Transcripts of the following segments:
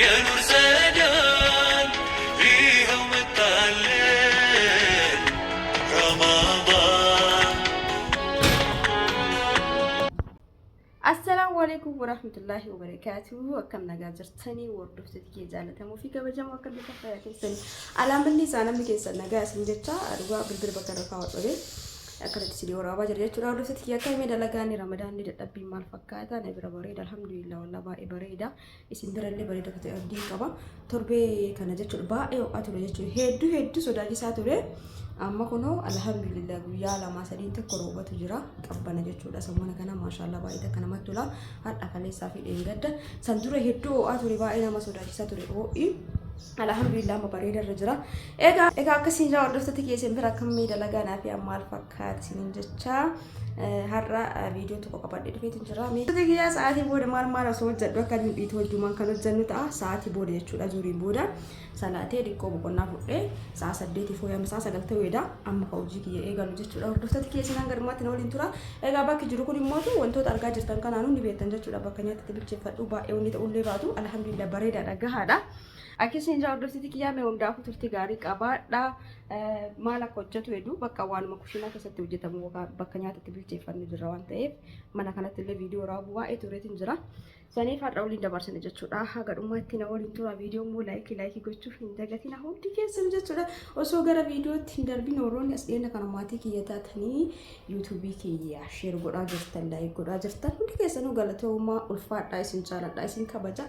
Yaa Nuur Saadaan Yihoo Mattaalleen Ramaadaan. Assalaamu alaikum warahmatullahi wabarakatuh akkam nagaa jirtanii hordoftoota kiyya jaallatamoo fi kabajamoo akkam jirtan fayyaa keessanii alaamanni isaa namni keessan nagaa isin jecha dhugaa bilbila bakka irra kaa'u dhabee akkanatti isin waraabaa jira jechuudha hordoftoota kiyya akka himee dalagaan ramadaan ni dadhabbii maal fakkaata na bira bareeda alhamdulillah wallah baay'ee bareeda isin birallee bareeda akka ta'e abdiin qaba. Torbee kana jechuudha baay'ee ho'aa ture jechuudha. Hedduu hedduu sodaachisaa ture. Amma kunoo alhamdulillah guyyaa lamaa sadiin tokko roobatu jira qabbana jechuudha. Sammuna kana maashaallah baay'ee takka namatti tola. Har'a kaleessaa fi dheengadda. San dura hedduu ho'aa ture baay'ee nama sodaachisaa ture ho'i. Alhamdulillah amma bareeda irra jira. Egaa egaa akkasiin jira hordoftoota keessan bira akka miidhalagaa naaf yaa maal fakkaata isiniin jechaa. har'a viidiyoo tokko qabadhee dhufeetu jira. Miidhagina kiyyaa sa'aatii booda maal maal osoo hojjedhu akka inni dhiitu hojjumaan kan hojjennu ta'a. Sa'aatii booda jechuudha zuuriin booda salaatee xiqqoo boqonnaa fudhee sa'a saddeetii fooyyama sa'a sagal ta'uudha. Amma ka hojii kiyya eegalu jechuudha. Hordoftoota kiyya sanaan garumaatti na waliin tura. Egaa bakki jiru kun immoo wantoota argaa jirtan kanaanuu ni beektan jechuudha. Bakka nyaatti bilcheeffadhu baay'ee wanni ta'ullee baatu alhamdulillah bareedaadha gahaadha. Akkasii hin jaa hordoftoota kiyyaa mee hundaafuu turtii gaarii qabaadha. Maal akka hojjetu hedduu bakka waanuma kushiinaa keessatti hojjetamu yookaan bakka nyaata itti bilcheeffannu jirra waan ta'eef mana kanatti illee viidiyoo raabuu waa'ee tureetiin jira. Saniif har'a waliin dabarsina jechuudha. Haga dhumaatti na waliin tura viidiyoo immoo laayikii laayikii gochuuf hin dagatina hundi keessan jechuudha. Osoo gara viidiyootti hin darbin warroonni as dhiyeenya kana maatii kiyya taatanii yuutuubii kiyya sheer godhaa jirtan laayik godhaa jirtan hundi keessanuu galatoomaa ulfaadhaa isin jaaladhaa isin kabajaa.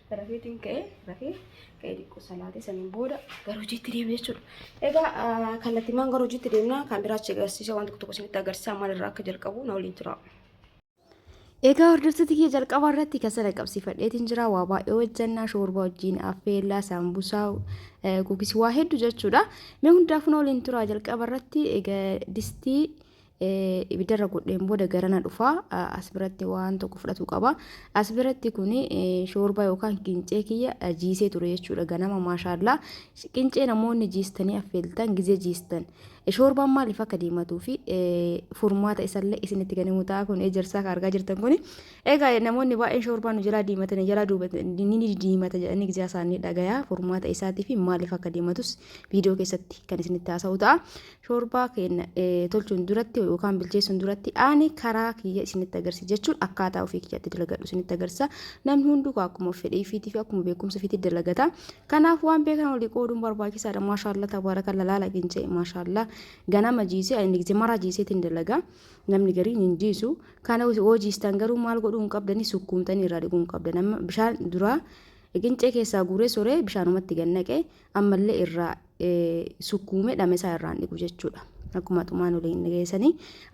Rafeetiin ka'ee rafee ka'ee xiqqoo salaatee saniin booda gara hojiitti deema jechuudha. Egaa kallattimaan gara hojiitti deemna kan biraa achi agarsiisa waan tokko tokko isinitti agarsiisa maal irraa akka jalqabu na waliin tura. Egaa hordoftoota kiyya jalqaba irratti kan sana qabsiifadheetiin jira waa baay'ee hojjannaa shoorbaa wajjin affeellaa saambusaa gugis waa hedduu jechuudha. Mee hundaafuu na waliin tura jalqaba irratti egaa distii ibidda irra godheen booda garana dhufa as biratti waan tokko fudhatu qaba as biratti kun shoorbaa yookaan qincee kiyya jiisee ture jechuudha ganama maashaallaa qincee namoonni jiistanii affeeltan gizee jiistan shoorbaan maaliif akka diimatuu fi furmaata isallee isinitti kan himu ta'a kun ejersaa kan argaa jirtan kun egaa namoonni baay'een shoorbaa nu jalaa diimatanii jalaa duubatan ni diimata jedhanii gizee isaanii dhagayaa furmaata isaatii fi maaliif akka diimatus viidiyoo keessatti kan isinitti haasa'u ta'a Shoorbaa keenya tolchuun duratti yookaan bilcheessuun duratti ani karaa kiyya isinitti agarsiisa jechuun akkaataa ofii kiyyatti dalagadhu isinitti agarsiisa. Namni hunduu akkuma fedhii fiitii fi akkuma beekumsa fiitii dalagata. Kanaaf waan beekan olii qooduun barbaachisaadha. Maashaallah tabaarakalla laala ginjee maashaallah ganama jiisee ani nigze maraa jiiseetiin dalaga. Namni garii hin jiisu. Kana yoo jiistan garuu maal godhuu hin qabdanii sukkuumtanii irraa dhiquu hin qabdan. Amma bishaan duraa qincee keessaa guuree soree bishaanumatti gannaqe ammallee irraa sukkuume dhame isaa irraan dhiqu jechuudha. Akkuma tumaan waliin dhageessanii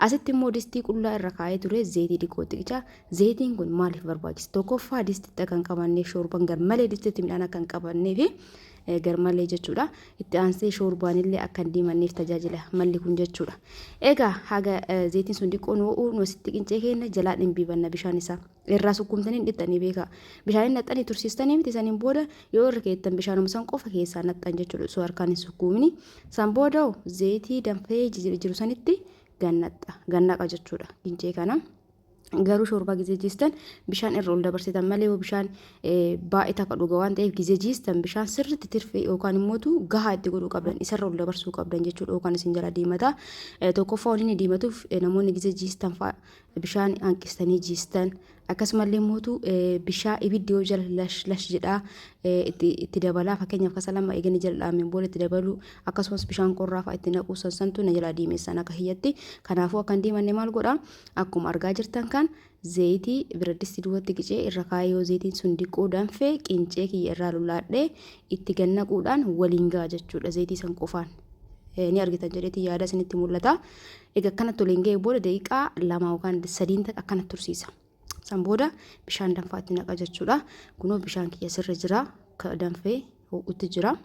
asitti immoo distii qullaa irra kaa'ee ture zeetii diqoo xiqichaa zeetiin kun maaliif barbaachisa tokkoffaa distitti akka hin qabanneef shoorban garmalee distitti midhaan akka hin qabanneef garmalee jechuudha itti aansee shoorbaan illee akka hin diimanneef tajaajila malli kun jechuudha egaa haga zeetiin sun diqoo nu ho'uu nu asitti qincee keenya jalaa dhimbiibanna bishaan isaa. irraa sukkuumtanii dhiqxanii beekaa. Bishaaniin naqxanii tursiistanii miti saniin booda yoo irra keettan bishaanuma san qofa keessaa naqxan jechuudha osoo harkaan hin sukkuumini. San booda zeetii danfee jiru sanitti gannaqa gannaqa jechuudha gincee kana. Garuu shoorbaa gizee jiistan bishaan irra ol dabarsitan malee yoo bishaan baay'ee takka dhuga waan ta'eef gizee jiistan bishaan sirriitti tirfee yookaan immoo gahaa itti godhuu qabdan isarra ol dabarsuu qabdan jechuudha yookaan isin jala diimata. Tokkoffaa waliin diimatuuf namoonni gizee jiistan fa'a bishaan hanqistanii jiistan akkasumallee mootu bishaa ibiddi yoo jala lash lash jedhaa itti dabalaa fakkeenyaaf kasa lama eeganii jala dhaameen booda itti dabaluu akkasumas bishaan qorraa fa'a itti naquu sansantu na jalaa diimessan akka hiyyatti kanaafuu akka hin diimanne maal godha akkuma argaa jirtan kan zayitii biraddisti duwwatti qicee irra kaayee yoo zayitiin sun diqqoo danfee qincee kiyya irraa lulaadhee itti gannaquudhaan waliin ga'a jechuudha zayitii san qofaan ni argitan jedheeti yaada isinitti mul'ata. Egaa akkanatti waliin ga'ee booda daqiiqaa lama yookaan sadiin taqa akkanatti tursiisa. San booda bishaan danfaatti naqa jechuudha. Kunoo bishaan kiyya sirra jira. Ka danfee ho'utti jira.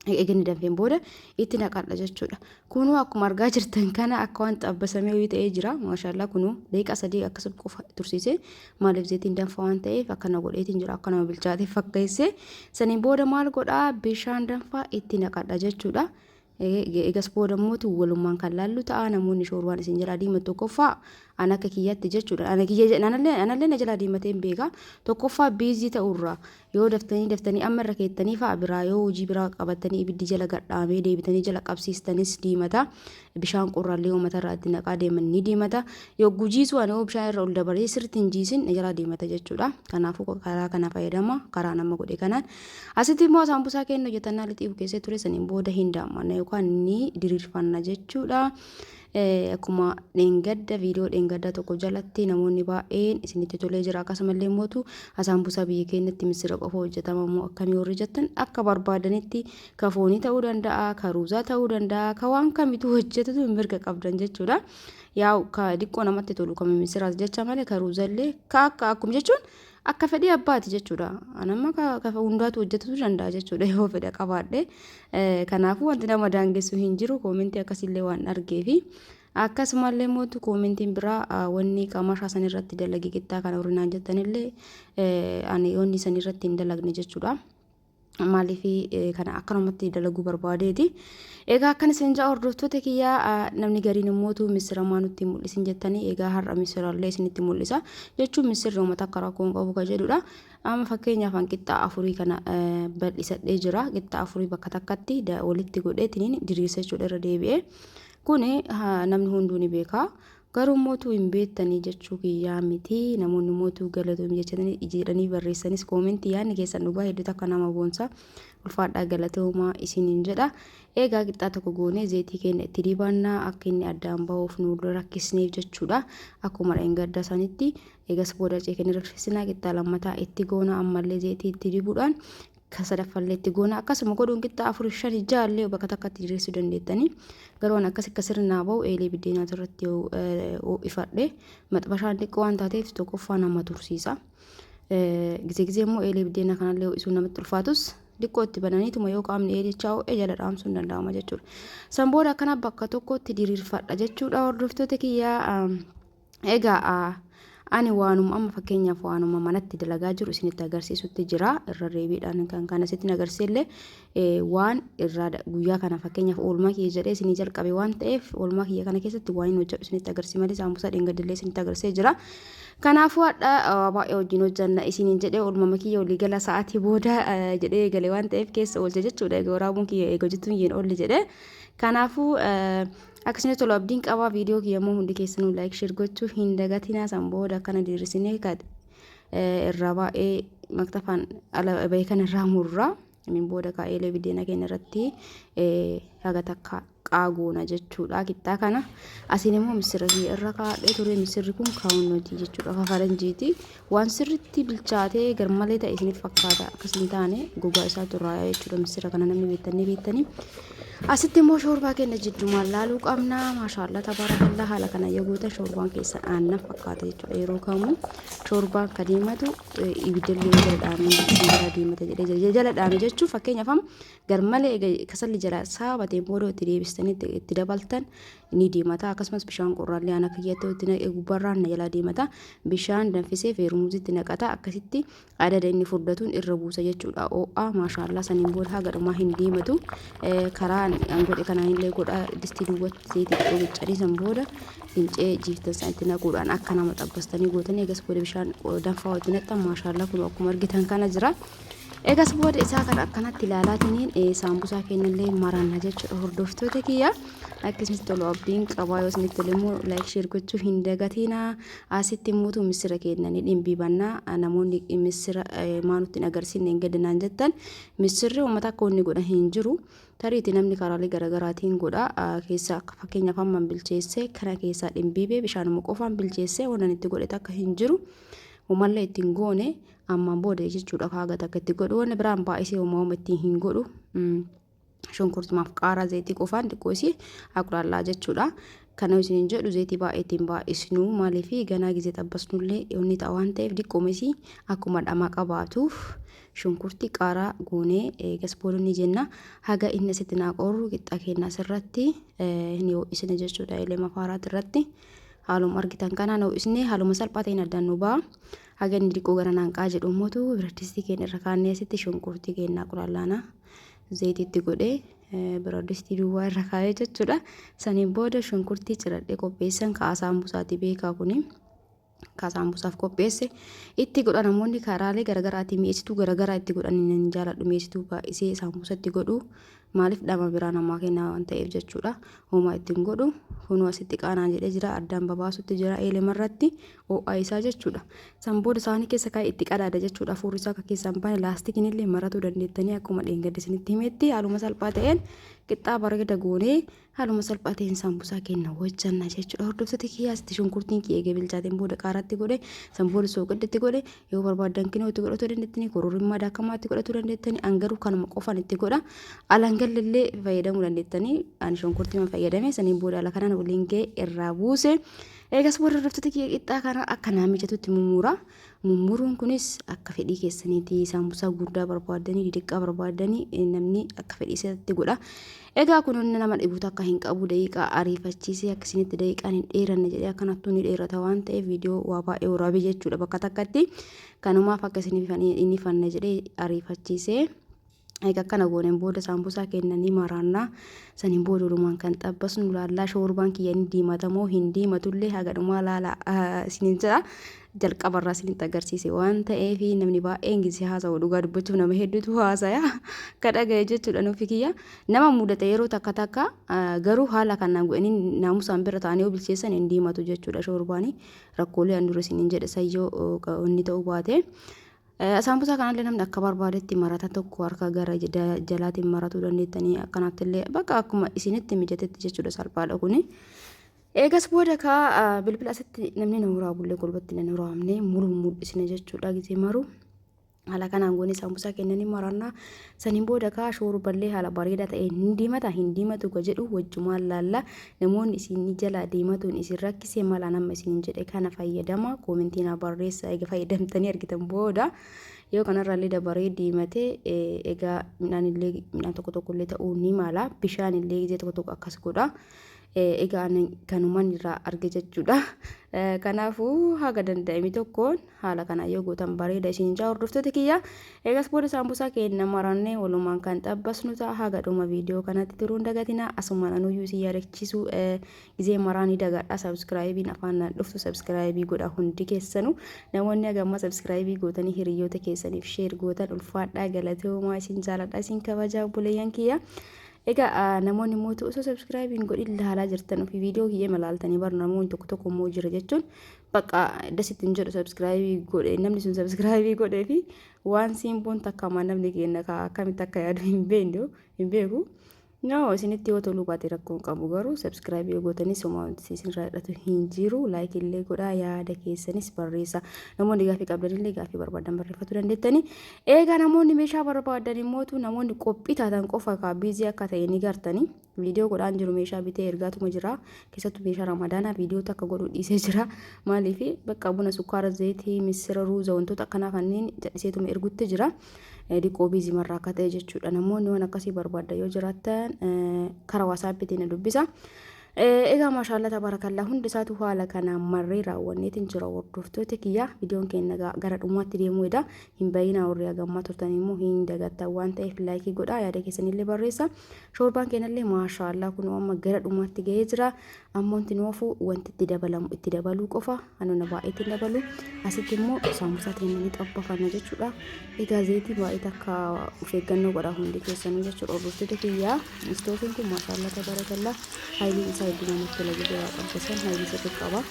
Eeganni danfeen booda itti naqadha jechuudha. Kunoo akkuma argaa jirtan kana akka waan xabbasamee wayii ta'ee jira. Maashaallah kunoo daqiiqaa sadii akkasuma qofa tursiise. Maaliif zeetiin danfa waan ta'eef akkana godheetiin jira. Akka nama bilchaatee fakkeessee. Saniin booda maal godhaa bishaan danfaa itti naqadha jechuudha. Egas booda immoo walumaan kan laallu ta'a namoonni shoorbaan isin jalaa diimatu tokkoffaa an akka kiyyaatti jechuudha. Ana kiyya jedhan anallee anallee na jalaa diimatee hin beeka. Tokkoffaa biizii ta'urraa yoo daftanii daftanii amma irra keettanii fa'a biraa yoo hojii biraa qabattanii ibiddi jala gadhaamee deebitanii jala qabsiistanis diimata. Bishaan qorraallee yoo matarraa itti naqaa deeman ni diimata. Yoo gujiisuu ani yoo bishaan irra ol dabaree sirriitti hin jiisin na jalaa diimata jechuudha. Kanaafuu karaa kana fayyadama karaa nama godhe kanaan. Asitti immoo saambusaa keenya hojjetannaa lixii bukeessee ture saniin booda hin daammanna yookaan ni diriirfanna jechuudha. Akkuma dheengadda viidiyoo dheengaddaa tokko jalatti namoonni baay'een isinitti tolee jira akkasumallee mootu saambusaa biyya keenyatti misira qofa hojjetama moo akkamii warri jettan akka barbaadanitti ka foonii ta'uu danda'a ka ruuzaa ta'uu danda'a ka waan kamitu hojjetatu mirga qabdan jechuudha. Yaa ka diqqoo namatti tolu ka misiraas jecha malee ka ruuzallee ka akka akkuma jechuun akka fedhii abbaati jechuudha. An amma ka- ka hundaatu hojjetutu danda'a jechuudha yoo fedha qabaadhe. Eh, Kanaafuu wanti nama daangessu hin jiru koomentii akkasiillee waan argeefi. Akkasumallee mootu koomentiin biraa ah, wanni qamaashaa san irratti dalage qixxaa kana horinaan jettanillee eh, ani wanni san irratti hin dalagne jechuudha. maaliif kana akkanumatti dalaguu barbaadeeti. Egaa akkan isin ja'a hordoftoota kiyyaa namni gariin immootu misiramaa nutti mul'isin jettanii egaa har'a misirallee isinitti mul'isa jechuun misirri uummata akka rakkoo hin qabu kan jedhudha. Amma fakkeenyaaf an qixxaa afurii kana bal'isadhee jira. Qixxaa afurii bakka takkatti walitti godheetiin diriirsa jechuudha irra deebi'ee. Kuni namni hunduu ni beeka. Garuu motuu hin beettanii jechuu kiyyaa miti namoonni motuu galatomi jechatanii ijeedhanii barreessanis koomentii yaadni keessan dhugaa hedduu takka nama boonsa ulfaadhaa galatoomaa isiniin jedha eegaa qixxaa tokko goonee zeetii keenya itti dibaannaa akka inni addaan bahuuf nu rakkisneef jechuudha akkuma dha'in gadda sanitti eegas booda ceekanii rakkisinaa qixxaa lammataa itti goona ammallee zeetii itti dibuudhaan kan sadaffallee itti goona akkasuma godhuun qixxaa afur shan ja'a illee bakka takkatti diriirsuu dandeettanii garuu an akkas akka sirnaa ba'u eelee biddeenaatu irratti ho'ifadhe maxbashaan xiqqoo waan taateef tokkoffaa nama tursiisa gizee gizee immoo eelee biddeenaa kanallee ho'isuun namatti ulfaatus xiqqoo itti bananiituma yoo qaamni eelichaa ho'e jala dhaamsuun danda'ama jechuudha san booda akkana bakka tokkotti diriirfadha jechuudha hordoftoota kiyyaa Egaa ani waanuma amma fakkeenyaaf waanuma manatti dalagaa jiru isinitti agarsiisutti jira irra deebiidhaan kan kana isinitti agarsiisellee waan irraa guyyaa kana fakkeenyaaf oolmaa kiyya jedhee isinii jalqabe waan ta'eef oolmaa kiyya kana keessatti waan hin hojjedhu isinitti agarsiisa malee saamusaa dheengadillee isinitti agarsiisee jira. Kanaafuu hadha baay'ee wajjin hojjanna isiniin jedhee oolmama kiyya olii gala sa'aatii booda jedhee eegale waan ta'eef keessa oolche jechuudha egaa waraabuun kiyya eega hojjetuun hin oolle jedhee kanaafuu. Akkasuma tolu abdiin qabaa viidiyoo kiyya immoo hundi keessanuu laayik sheer gochuu hin dagatinaa san booda akkana diriirsinee irraa baay'ee maktafaan ala bahee kan irraa murraa min booda kaa'eelee bideena keenya irratti haga takka qaagoona jechuudha kittaa kana asiin immoo misira irra kaa'ee ture misirri kun kaawunnooti jechuudha kafaranjiiti Waan sirritti bilchaatee garmalee ta'e isinitti fakkaata akkas hin taane gogaa isaatu irraa yaa'e jechuudha missira kana namni beektan ni beektanii. Asitti immoo shoorbaa keenya jiddumaan laaluu qabna. Maashaallah tabaarakallaa haala kana yoo gootan shoorbaan keessan aannan fakkaata jechuudha yeroo kamuu shoorbaan ka diimatu ibiddallee jala dhaamee jala diimata jedhee jala dhaame jechuun fakkeenyaaf amma garmalee kasalli jala saabateen booda itti deebistanii itti dabaltan ni deemata akkasumas bishaan qorraallee ana kiyyatti itti naqe gubbarraan na jalaa deemata bishaan danfisee feermuuzitti naqata akkasitti adada inni furdatuun irra buusa jechuudha oo'aa maashaallaa saniin booda haga dhumaa hin deematu karaa an godhe kanaan illee godha distii duwwatti seetii xiqqoo biccanii san booda fincee jiiftan san itti naquudhaan akka nama xabbastanii gootanii egas booda bishaan danfaa itti naqxan maashaallaa kun akkuma argitan kana jira. Egas booda isaa kana akkanatti ilaalaatiniin eh, saambusaa keenyallee maranna jechuudha hordoftoota kiyya. Akka isinitti tolu abdiin qabaa yoo isinitti tole immoo laayik sheer gochuu hin dagatiinaa. Asitti immoo misira keenya ni dhimbiibannaa. Ah, Namoonni eh, misira eh, maa nutti hin agarsiisne hin gadinaan jettan misirri uummata akka inni godhan hin jiru. Tariiti namni karaalee garaagaraatiin godha. Ah, Keessa akka fakkeenyaaf hamman bilcheessee kana keessaa dhimbiibee bishaanuma qofaan bilcheessee waan ani itti godhe takka hin jiru. Umallee ittiin goone ammaan booda jechuudha kaaga takka itti godhu wanni biraan baay'isee homaa homa ittiin hin godhu shunkurtumaaf qaaraa zayitii qofaan xiqqoo isii aqulaallaa jechuudha kana isin jedhu zayitii baay'ee ittiin baay'isnu maaliif ganaa gizee xabbasnullee inni ta'a waan ta'eef diqqooma isii akkuma dhamaa qabaatuuf shunkurti qaaraa goonee eegas booda ni jenna haga inni asitti naa qorru qixxaa keenyaas irratti ni ho'isne jechuudha ilma faaraati irratti haaluma argitan kanaan ho'isne haaluma salphaa ta'een addaan nu ba'a. Haga inni diqqoo gara naanqaa jedhu immoo biradistii keenya irra kaannee asitti shunkurtii keenya qulaallaanaa zayitii itti godhee biradistii duwwaa irra kaa'ee jechuudha. Saniin booda shunkurtii ciradhee qopheessan kaasaan busaati beekaa kuni. Kaasaan busaaf qopheesse itti godha namoonni karaalee garaagaraatiin mi'eessituu garaagaraa itti godhan hin jaaladhu mi'eessituu baay'isee saambusa itti godhu Maaliif dhama biraa namaa kennaa waan ta'eef jechuudha. Homaa itti hin godhu. Kunuu asitti qaanaan jedhee jira. Addaan babaasutti jira eelema irratti oo'aa isaa jechuudha. San booda saanii keessa kaa'ee itti qadaada jechuudha. Afuurri isaa akka keessaa hin baane laastikiin illee maratuu dandeettanii akkuma dheengadde isinitti himetti haaluma salphaa ta'een qixxaa bareeda goonee Haaluma salphaa ta'een saambusaa keenya hojjanna jechuudha. Hordoftoota kiyyaa asitti shunkurtiin kiyya eegee bilchaateen booda qaaraatti godhe, san booda sooqidditti godhe, yoo barbaaddan kinoo itti godhatuu dandeettanii, kororrimmaa daakamaa itti godhatuu dandeettanii, an garuu kanuma qofaan itti godha. Alaan gallallee fayyadamuu dandeettanii, ani shunkurtiima fayyadame, saniin booda ala kanaan waliin ga'e irraa buuse. Eegas booda hordoftoota kiyya qixxaa kana akka naa mijatutti mummuura. mummuruun kunis akka fedhii keessaniiti saambusaa guddaa barbaaddanii didiqqaa barbaaddanii namni akka fedhii isaatti godha egaa kun inni nama dhibuutu akka hin qabu daqiiqaa ariifachiisee akka isinitti daqiiqaan hin dheeranne jedhee akka nattuu ni dheerata waan ta'eef viidiyoo waa baay'ee waraabee jechuudha bakka takkatti kanumaaf akka isiniif inni fanna jedhee ariifachiisee Eega akkana gooneen booda saambusaa keenna ni maraanna. Saniin booda walumaan kan xabbasnu laallaa shoorbaan kiyya ni diimata moo hin diimatullee haga dhumaa laala isiniin jedha. Jalqabarraa isinitti agarsiise waan ta'eef namni baay'een gisi haasa'u dhugaa dubbachuuf nama hedduutu haasaya. Ka dhagaye jechuudha nuufi kiyya. Nama mudata yeroo takka takka garuu haala kanaan godhanii naamusaan bira ta'anii yoo bilcheessan hin diimatu jechuudha shoorbaanii. Rakkoolee an dura isiniin jedhe sayyoo inni ta'uu baate. Saambusaa kanallee namni akka barbaadetti marata tokko harka gara jalaatiin maratuu dandeettanii akkanaatti illee bakka akkuma isinitti mijatetti jechuudha salphaadha kuni. Eegas booda kaa bilbila asitti namni na waraabullee golbatti na waraabne muruu mul'isne jechuudha gisee maruu. Haala kanaan goone saambusaa kennanii marannaa Saniin booda kaa shuurballee haala bareedaa ta'een hin diimata hin diimatu ka jedhu wajjumaan laalla. Namoonni isinii jalaa diimatuun isin rakkise maal an amma isiniin jedhe kana fayyadamaa koomentii naa barreessaa eega fayyadamtanii argitan booda yoo kanarraallee dabaree diimate egaa midhaanillee midhaan tokko tokkollee ta'uu ni mala bishaanillee gizee tokko tokko akkas godha. Egaa kanumaan irraa arge jechuudha. Kanaafuu haga danda'ame tokkoon Haala kanaan yoo gootan bareeda isiniin ja'a hordoftoota kiyya. Eegas booda saambusaa keenya marannee walumaan kan xabbasnu ta'a. Haga dhuma viidiyoo kanatti turuun dagatinaa. Asumaan anuyyuu isin yaadachiisuu eh, gizee maraa ni dagadha. Sabskraayibiin afaan naan dhuftu sabskraayibii godha hundi keessanu. Namoonni haga ammaa sabskraayibii gootanii hiriyoota keessaniif sheer gootan ulfaadhaa galatoomaa isin jaaladha isin kabajaa obboleeyyan kiyya. Egaa ah, namoonni immoo osoo sabskraayibiin godhin laalaa jirtan ofii viidiyoo kiyya malaaltanii bar namoonni tokko tokko immoo jira jechuun Bakka das ittiin jedhu sabskiraayibii godhe namni sun sabskiraayibii godhee fi waan siimboon takkamaa namni keenya kaa akkamitti akka yaadu hin beekne hin beeku. Noo isinitti yoo toluu baate rakkoon qabu garuu sabskiraayibii gootanii somaa isinirraa hidhatu hin jiru laayikii illee godhaa yaada keessanis barreessa namoonni gaafii qabdan illee gaafii barbaadan barreeffachuu dandeettanii eegaa namoonni meeshaa barbaadan immoo namoonni qophii taatan qofa kaa biizii akka ta'e ni gartanii. Video godhaan jiru meeshaa bitee ergaatuma jira keessattu meeshaa ramadaanaa video takka godhu dhiisee jira maaliif bakka buna sukkaara zayitii missira ruuza wantoota akkanaa kanneen jadhiseetuma ergutti jira diqoo biizii marraa akka ta'e jechuudha namoonni waan akkasii barbaadda yoo jiraattan kara waasaappiitiin na dubbisa. Egaa maashaallah tabaarakallaa hundi isaatu haala kanaan marree raawwanneetiin jira hordoftoota kiyya viidiyoon keenya gara dhumaatti deemuu edaa hin bayinaa warri hagammaa turtan immoo hin dagattan waan ta'eef laayikii godhaa yaada keessanillee barreessa Shoorbaan keenallee maashaa Allah kunoo amma gara dhumaatti ga'ee jira. Ammoo wanti nu hafu wanti itti dabalamu itti dabaluu qofa. Anona baay'ee itti dabalu. Asitti immoo saamusaa keenya ni xabbafanna jechuudha. Egaa zayitii baay'ee takka of eeggannoo godhaa hundi keessanuu jechuudha. Hordoftoota kiyyaa istoofiin kun maashaa Allah tabarakallah haayiliin isaa hedduu namatti tola jedhee waa qabbasan haayilii sirrii qaba.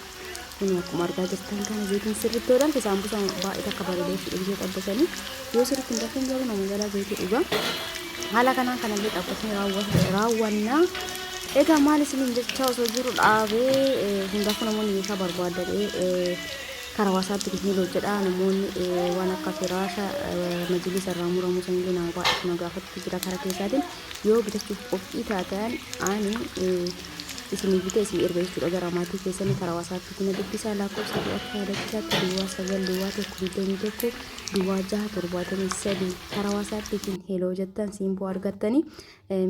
Kun akkuma argaa jirtan kana zayitiin sirriitti yoo danfe saambusaa baay'ee takka bareeda jechuudha biyya xabbasanii yoo sirriitti hin danfin garuu nama jalaa zayitii dhugaa. Haala kanaan kanallee xabbasnee raawwannaa. Egaa maal isiniin jechaa osoo jiru dhaabee hundaafuu namoonni meeshaa barbaadadhee karaa waasaatti gidni hojjedha namoonni waan akka firaasha majilisa irraa muramuu sanillee nama baay'eetu na gaafatu jira karaa keessaatiin yoo bitachuuf qophii taatan ani isinii bite isin erga jechuudha gara maatii keessanii karaa wasaappiitti na dubbisaa lakkoofsa koo akka yaadachisaatti duwwaa sagal duwwaa tokko digdamii tokko duwwaa jaha torbaatamii sadii karaa wasaappiitiin heloo jettan siimboo argattanii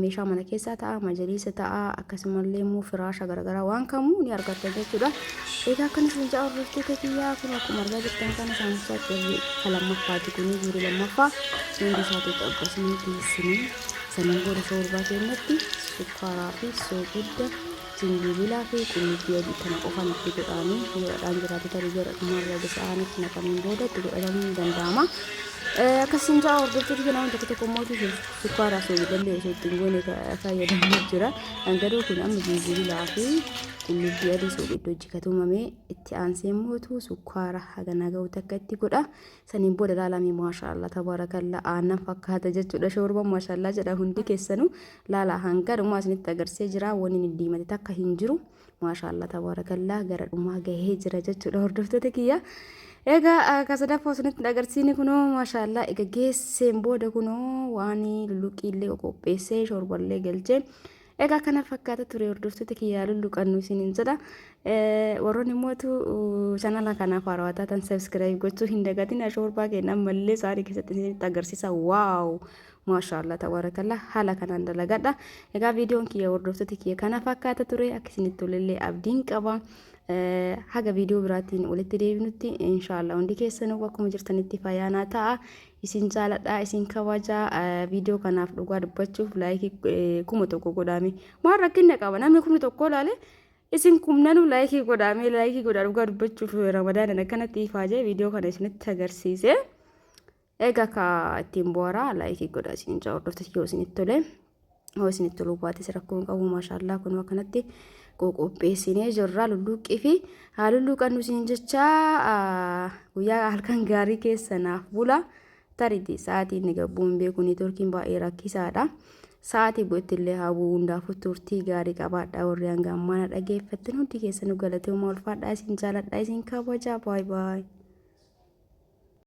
meeshaa mana keessaa ta'a majaliisa ta'a akkasumallee immoo firaasha garaagaraa waan kamuu ni argattan jechuudha egaa akkana isin ja'a hordoftoota kiyyaa kun akkuma argaa jirtan kana saamsaatti kan lammaffaati kun guurii lammaffaa hundi isaatu cabba isinii geessinii Sannan booda shoorbaa keenyatti sukkaaraa fi soogidda jinjibilaa fi qullubbii adii kana qofaan itti godhaanii yoo dhadhaan jiraate tarii gara dhumarra gosa aanitti naqameen booda itti godhatamuun ni danda'ama. Akkasiin ja'a hordoftoota keenyaa hunda tokko tokko mootii sukkaaraa fi soogidallee osoo ittiin goone fayyadamaa jira. Garuu kun amma jinjibilaa fi qullubbii adii soogidda hojjikatumamee itti aansee mootu sukkaara haganaa ga'u takka itti godha. saniin booda laalamee maashaallah tabaarakalla aannan fakkaata jechuudha shoorban maashaallah jedha hundi keessanu laala hanga dhumaa isinitti agarsee jira wanni inni diimate takka hin jiru maashaallah tabaarakalla gara dhumaa gahee jira jechuudha hordoftoota kiyya egaa akka sadaffaa isinitti agarsiini kunoo maashaallah egaa geesseen booda kunoo waan luluqiillee qopheessee shoorballee galchee Egaa kana fakkaata ture hordoftoota kiyyaa lulluqannu isiniin jedha. Warroonni mootu chanala kanaaf haarawaa taatan sabiskiraayib gochuu hin dagatin ashoorbaa keenya ammallee sa'aatii keessatti isinitti agarsiisa. Waaw! Maashaallah tabarakallah haala kanaan dalagadha. Egaa viidiyoon kiyya hordoftoota kiyya kana fakkaata ture akka isinitti tolellee abdiin qaba. Haga viidiyoo biraatiin walitti deebinutti inshaallah hundi keessanuu akkuma jirtanitti fayyaanaa ta'a. Isin jaaladha isin kabaja video kanaaf dhugaa dubbachuuf laayikii kuma tokko godhaame maal rakkinna qaba namni kumni tokko laale isin kumnanuu laayikii godhaame laayikii godhaa dhugaa dubbachuuf ramadaanan akkanatti ifaa jee video kana isinitti agarsiise egaa ka ittiin bu'araa laayikii godhaa isin jaa hordoftas yoo isinitti tolee. Hoo isinitti toluu baates rakkoo hin qabu maashaallaa kun akkanatti qoqopheessinee jirra lulluuqqii fi haa lulluuqannu isin jecha guyyaa halkan gaarii keessa naaf bula tariti sa'aatii inni gabbuu hin beeku neetworkiin baay'ee rakkisaadha. Sa'aatii bu'etti illee haa bu'u hundaafuu turtii gaarii qabaadha warri hanga ammaana dhageeffattan hundi keessanuu galatoomaa ulfaadhaa isin jaaladha isin kabajaa baay baay.